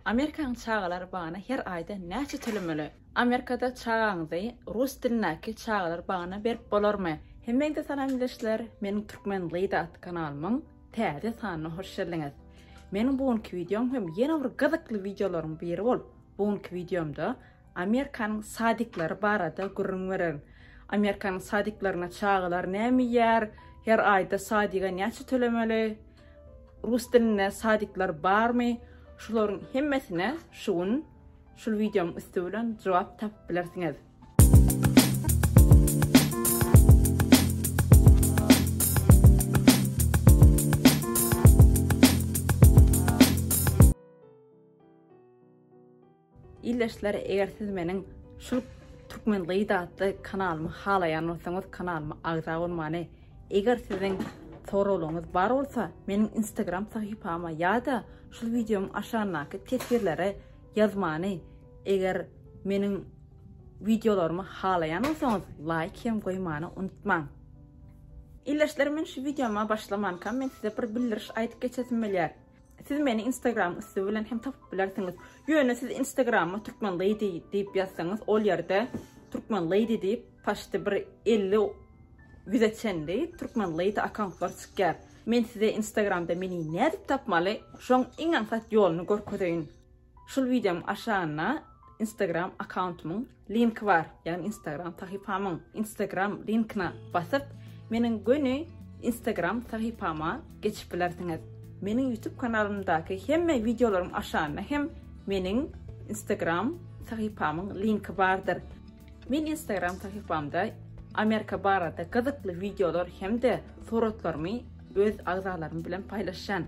Amerikanyň çagalar bagyna her aýda näçe tölemeli? Amerikada çagaňyzy rus dilindäki çagalar bagyna berip bolarmy? Hemmäňize salam ildeşler, meniň Türkmen Lyda atly kanalymyň täze sanyna hoş geldiňiz. Meniň bu günki wideom hem ýene bir gyzykly wideolaryň biri bolup, bu günki wideomda Amerikanyň sadiklary barada gürrüň beriň. Amerikanyň sadiklerinde çagalar näme iýýär? Her aýda sadiga näçe tölemeli? Rus dilinde sadikler barmy? Şularyň hemmesine şu gün şul wideonyň üsti bilen jogap tapyp bilersiňiz. Ildeşler eger siz meniň şul Türkmen gyzy atly kanalymy halaýan bolsaňyz kanalyma agza bolmany eger siziň soraglaryňyz bar bolsa meniň instagram sahypama ýa-da şul wideomyň aşagyndaky teswirlere ýazmany eger meniň wideolarymy halaýan bolsaňyz laýk hem goýmany unutmaň. Ildeşler men şu wideoma başlamankam men size bir bildiriş aýdyp geçesim bilýär. Siz meni Instagram üsti bilen hem tapyp bilersiňiz. Ýöne siz Instagrama Türkmen Lady diýip ýazsaňyz, ol ýerde Türkmen Lady diýip paşty bir 50 ýüze çenli Türkmen Lady akkauntlar çykýar. Men size Instagramda meni nädip tapmaly, şoň iň aňsat ýoluny görkezeýin. Şul wideoň aşagynda instagram akkauntumyň linki bar, ýagny instagram sahypamyň instagram linkine basyp meniň göni instagram sahypama geçip bilersiňiz. Meniň ýutub kanalymdaky hemme wideolaryň aşagynda hem meniň instagram sahypamyň linki bardyr. Men instagram sahypamda Amerika barada gyzykly wideolar hem-de suratlarymy öz agzalarym bilen paýlaşýan.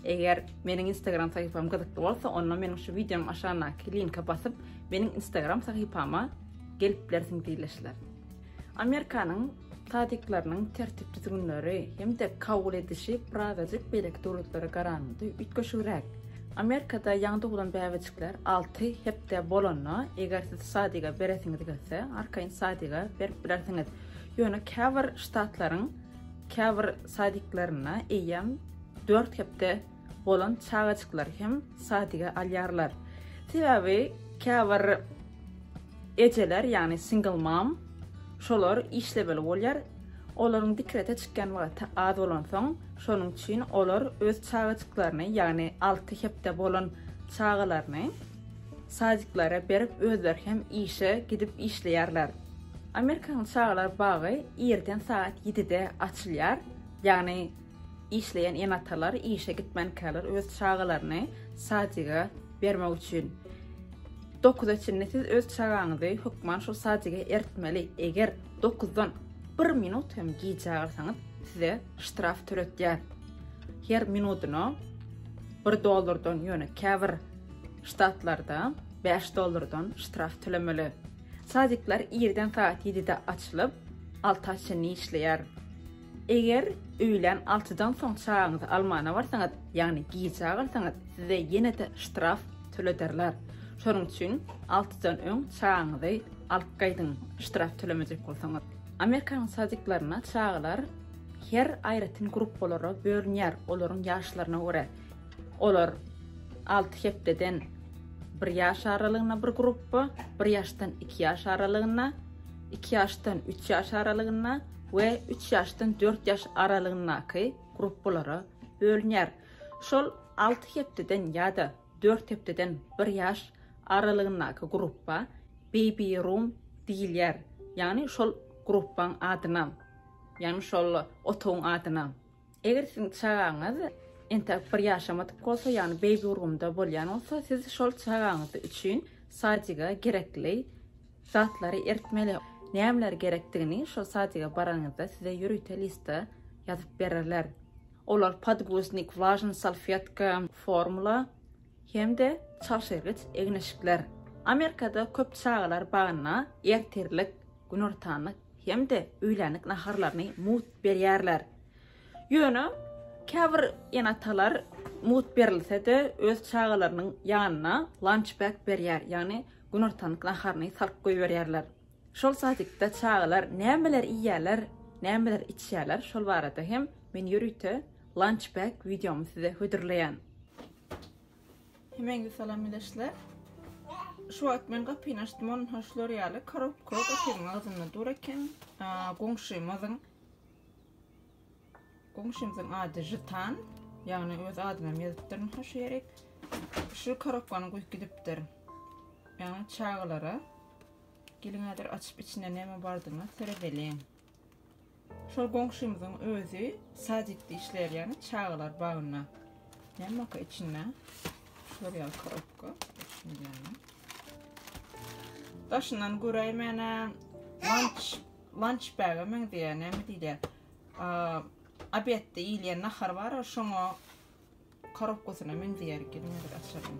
Eger meniň Instagram sahypam gyzykly bolsa, onda meniň şu wideonyň aşagyndaky linke basyp, meniň Instagram sahypama gelip bilersiň diýleşler. Amerikanyň tadyklarynyň tertip-düzgünleri hem-de kabul edişi birazajyk beýleki döwletlere garanda üýtgeşigräk. Amerikada ýaňy doglan bäbejikler 6 hepde bolanda, eger siz sadyga beresiňiz gelse, arkaýyn sadyga berip bilersiňiz. Ýöne käbir ştatlaryň käbir sadiklerinde eýýäm Dört hepde bolan çagajyklary hem sadyga alýarlar. Sebäbi käbir ejeler, ýagny single mom, şolar işlemeli bolýar. Olaryň dikrete çykýan wagty az bolansoň, şonuň üçin olar öz çagajyklaryny, ýagny alty hepde bolan çagalaryny sadiklara berip, özleri hem işe gidip işleýärler. Amerikanyň çagalar bagy irden sagat ýedide açylýar, ýagny Işleýän ene-atalar işe gitmänkäler öz çagalaryny sadiga bermek üçin dokuza çenli siz öz çagaňyzy hökman şol sadiga eritmeli. Eger dokuzdan bir minut hem gijä galsaňyz, size ştraf töletýär. Her minudyna bir dollardan, ýöne käbir ştatlarda bäş dollardan ştraf tölemeli. Sadikler irden saat ýedide açylyp, alta çenli işleýär. Eger öýlän altydan soň çagaňyzy almana barsaňyz, ýagny gijä galsaňyz, size ýene-de ştraf tölederler. Şonuň üçin altydan öň çagaňyzy alyp gaýdyň, ştraf tölemejek bolsaňyz. Amerikanyň sadiklerinde çagalar her aýratyn gruppalara bölünýär, olaryň ýaşlaryna görä. Olar alty hepdeden bir ýaş aralygynda bir gruppa, bir ýaşdan iki ýaş aralygynda, iki ýaşdan üç ýaş aralygynda, we üç ýaşdan dört ýaş aralygyndaky gruppalara bölünýär. Şol alty hepdeden ýa-da dört hepdeden bir ýaş aralygyndaky gruppa baby room diýilýär. Ýagny şol gruppaň adyna, ýagny şol otagyň adyna. Eger siziň çagaňyz entäk bir ýaşamadyk bolsa, ýagny beýbi urgymda bolýan bolsa, siz şol çagaňyz üçin sadiga gerekli zatlary eritmeli. Nämeler gerekdigini şol sadiga baranyňyzda size ýörite listda ýazyp bererler. Olar podguznik, vlažny salfetka, formula hem-de çalşyrgyç egin-eşikler. Amerikada köp çagalar bagyna ertirlik günortanlyk hem-de öýlänlik naharlaryny mugt berýärler. Ýöne käbir ene-atalar mugt berilse-de öz çagalarynyň ýanyna lunch bag berýär, ýagny günortanlyk naharyny salyp goýberýärler. Şol sadikde çagalar nämeler iýýärler, nämeler içýärler, şol barada hem men ýörite lunch bag wideomy size hödürleýän. Hemeňizi salam bileşler. Şu wagt men gapyny açdym, onun hoşlar ýaly korobka gapynyň agzynda dur eken. Goňşymyzyň Goňşymyzyň ady Jitan. Ýagny öz adyna ýazypdyr hoş ýerik. Şu korobkany guýup gidipdir. Ýagny çagalara. Geliň häzir açyp içinde näme bardygyna seredeliň. Şol goňşymyzyň özi sadikde işleýär, ýagny çagalar bagynda. Nämekä içinde? Şular ýaly korobka. Daşyndan göräýmäne lunch lunch bag-a meňzeýär, näme diýilýär? Obedde iýilýän nahar bar, şoňa korobkasyna meňzeýär, gelin bir açalım.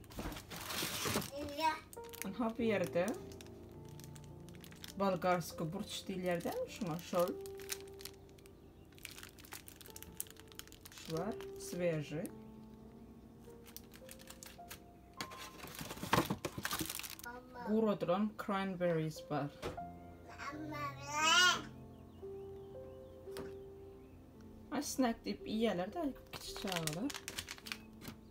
Aha bu yerde Bolgarsko burç diýilýär däl şuňa şol. Şu var, sveji. Guradylan cranberries var. Ay snack deyip iýerler de kiçi çagalar.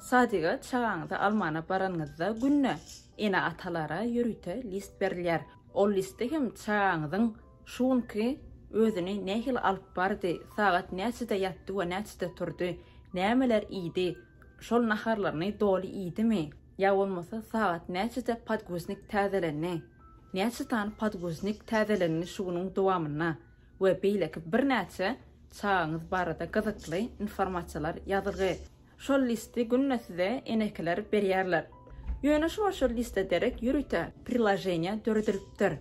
Sadyga çagaňyzy almana baranyňyzda günde ene-atalara ýörite list berilýär. Ol listde hem çagaňyzyň şu günki özüni nähili alyp bardy, sagat näçede ýatdy we näçede turdy, nämeler iýdi, şol naharlaryny doly iýdimi, ýa bolmasa sagat näçede podguznik täzelendi, näçe sany podguznik täzelendi şu günüň dowamynda, we beýleki birnäçe çagaňyz barada gyzykly informasiýalar ýazgy. Şol listi günde size enekiler berýärler. Ýöne şuňa şol liste derek ýörite priloženiýa döredilipdir.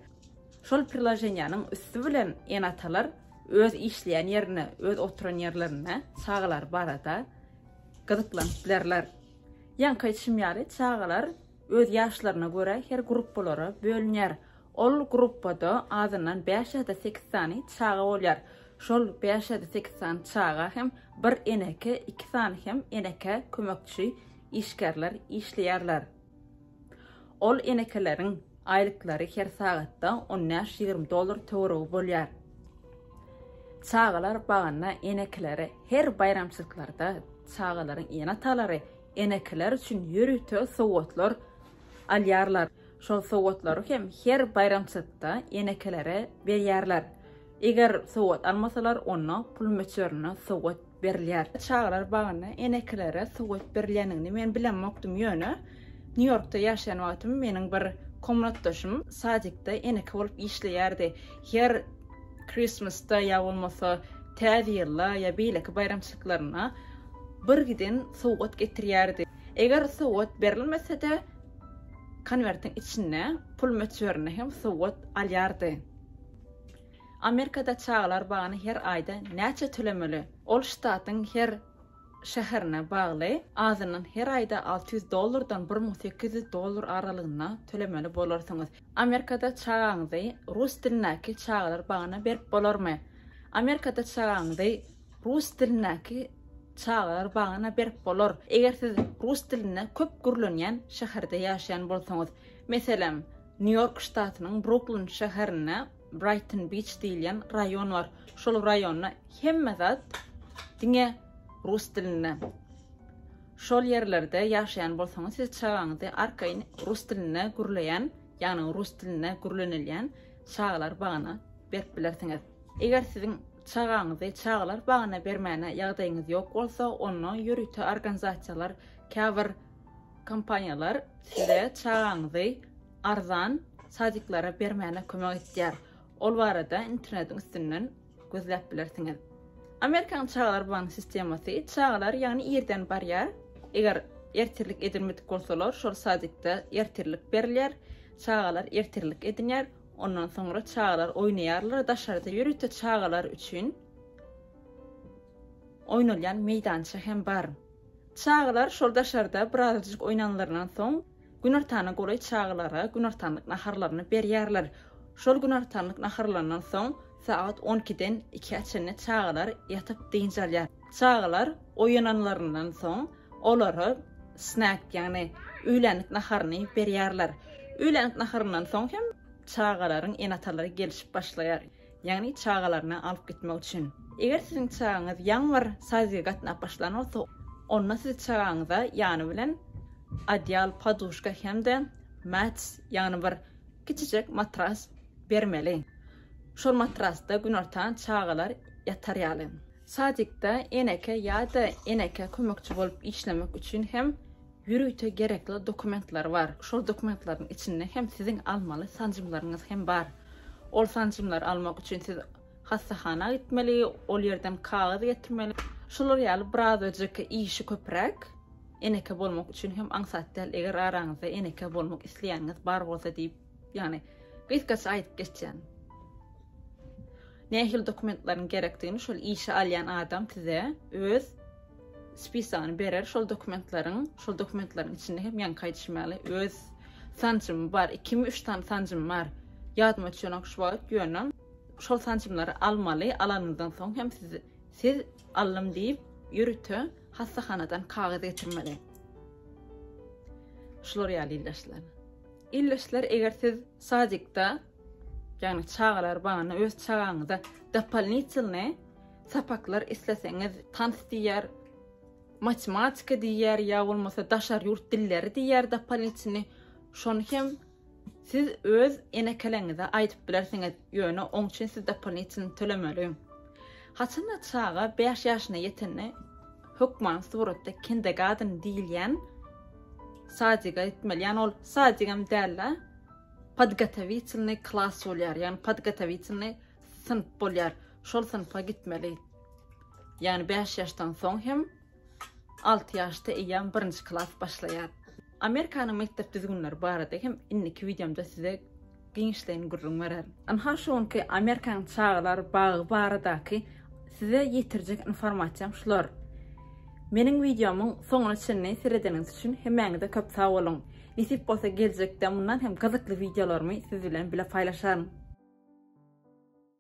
Şol priloženiýanyň üsti bilen ene-atalar öz işleýän ýerinde, öz oturan ýerlerinde çagalary barada gyzyklanyp bilerler. Ýaňky aýdyşym ýaly, çagalar öz ýaşlaryna görä her gruppalara bölünýär. Ol gruppada azyndan bäş ýa-da sekiz sany çaga bolýar. Şol bäş ýa-da sekiz sany çaga hem bir eneke, iki sany hem eneke kömekçi işgärler işleýärler. Ol enekeleriň aýlyklary her sagatda on bäş-ýigrimi dollar töweregi bolýar. Çagalar bagynda enekelere her baýramçylyklarda çagalaryň ene-atalary enekeler üçin ýörite sowgatlar alýarlar. Şol sowgatlary hem her baýramçylykda enekelere berýärler. Eger sowgat almasalar, onda pul möçberinde sowgat berilýär. Çagalar bagynda enekelere sowgat berilýändigini men bilemokdym, ýöne Nýu-Ýorkda ýaşaýan wagtym meniň bir komnatdaşym sadikde eneke bolup işleýärdi. Her Christmas-da ýa bolmasa Täze ýylda ýa beýleki baýramçylyklaryna bir giden sowgat getirýärdi. Eger sowgat berilmese-de, Konwertiň içinde pul möçberinde hem sowgat alýardy. Amerikada çagalar bagyny her aýda näçe tölemeli? Ol ştatyň her şäherine bagly, azyndan her aýda alty ýüz dollardan bir müň sekiz ýüz dollar aralygynda tölemeli bolarsyňyz. Amerikada çagaňyzy rus dilindäki çagalar bagyna berip bolarmy? Amerikada çagaňyzy Rus dilindäki çagalar bagyna berip bolar. Eger siz rus dilinde köp gürlenýän şäherde ýaşaýan bolsaňyz, meselem, Nýu-Ýork ştatynyň Bruklin şäherinde Braýton Biç diýilýän raýon bar. Şol raýonda hemme zat diňe rus dilinde. Şol ýerlerde ýaşaýan bolsaňyz, siz çagaňyzy arkaýyn rus dilinde gürleýän, ýagny rus dilinde gürlenilýän çagalar bagyna berip bilersiňiz. Eger siziň çagaňyzy çagalar bagyna bermäne ýagdaýyňyz ýok bolsa, onda ýörite organizasiýalar, käbir kompaniýalar size çagaňyzy arzan sadiklara bermäne kömek etýär. Ol barada internetiň üstünden gözläp bilersiňiz. Amerikanyň çagalar bagynyň sistemasy, çagalar ýagny irden barýar. Eger ertirlik edinmedik bolsalar, şol sadikde ertirlik berilýär. Çagalar ertirlik edinýär. Ondan soňra çagalar oýnaýarlar. Daşarda ýörite çagalar üçin oýnalýan meýdança hem bar. Çagalar şol daşarda birazajyk oýnanlaryndan soň, günortana golaý çagalara günortanlyk naharlaryny berýärler. Şol günortanlyk naharlaryndan soň, sagat on ikiden ikä çenli çagalar ýatyp dynç alýar. Çagalar oýananlaryndan soň olara snack, ýagny öýlänlik naharyny berýärler. Öýlänlik naharyndan soň hem çagalaryň ene-atalary gelşip başlaýar, ýagny çagalaryny alyp gitmek üçin. Eger siziň çagaňyz ýaňy bir sazige gatnap başlan bolsa, onda siz çagaňyza ýany bilen odýal, poduşka hem-de mats, ýagny bir kiçijek matras bermeli. Şol matrasda günortan çagalar ýatar ýaly. Sadikde eneke ýa-da eneke kömekçi bolup işlemek üçin hem ýörite gerekli dokumentler bar. Şol dokumentlaryň içinde hem siziň almaly sanjymlaryňyz hem bar. Ol sanjymlary almak üçin siz hassahana gitmeli, ol ýerden kagyz getirmeli. Şular ýaly birazajyk işi köpräk. Eneke bolmak üçin hem aňsat däl, eger araňyzda eneke bolmak isleýäniňiz bar bolsa diýip, ýagny gysgaça aýdyp geçýän. Nähili dokumentlaryň gerekdigini şol işe alýan adam size öz spisagyny berer, şol dokumentlaryň, şol dokumentlaryň içinde hem ýaňky aýdyşym ýaly öz sanjymy bar, ikimi üç sany sanjym bar, ýadyma düşenok şu wagt, ýöne şol sanjymlary almaly, alanyňyzdan soň hem siz, siz aldym diýip ýörite hassahanadan kagyz getirmeli. Şular ýaly ildaşlar. Ildeşler eger siz sadikda ýagny çagalar bagynda öz çagaňyza dopolnitylny sapaklar isleseňiz tans diýer, matematika diýer ýa bolmasa daşary ýurt dilleri diýer dopolnitylny şony hem siz öz enekeleňize aýdyp bilersiňiz ýöne oň üçin siz dopolnitylny tölemeli. Haçanda çaga bäş ýaşyna ýetende hökman suratda kindergarten diýilýän sadiga gitmeli. Ýani ol sadigam däl-de, podgotowitelnyý klas bolýar. Ýani podgotowitelnyý synp bolýar. Şol synpa gitmeli. Ýani 5 ýaşdan soň hem 6 ýaşda eýýäm 1-nji klas başlaýar. Amerikanyň mekdep düzgünleri barada hem indiki wideomda size Giňişleýin gürrüň bererin. Ynha şu günki Amerikanyň çagalar bagy baradaky size ýetirjek informasiýam şular. Meniň wideomyň soňuna çenli seredeniňiz üçin hemmäňize köp sag boluň. Nesip bolsa geljekde mundan hem gyzykly wideolarymy siz bilen bile paýlaşaryn.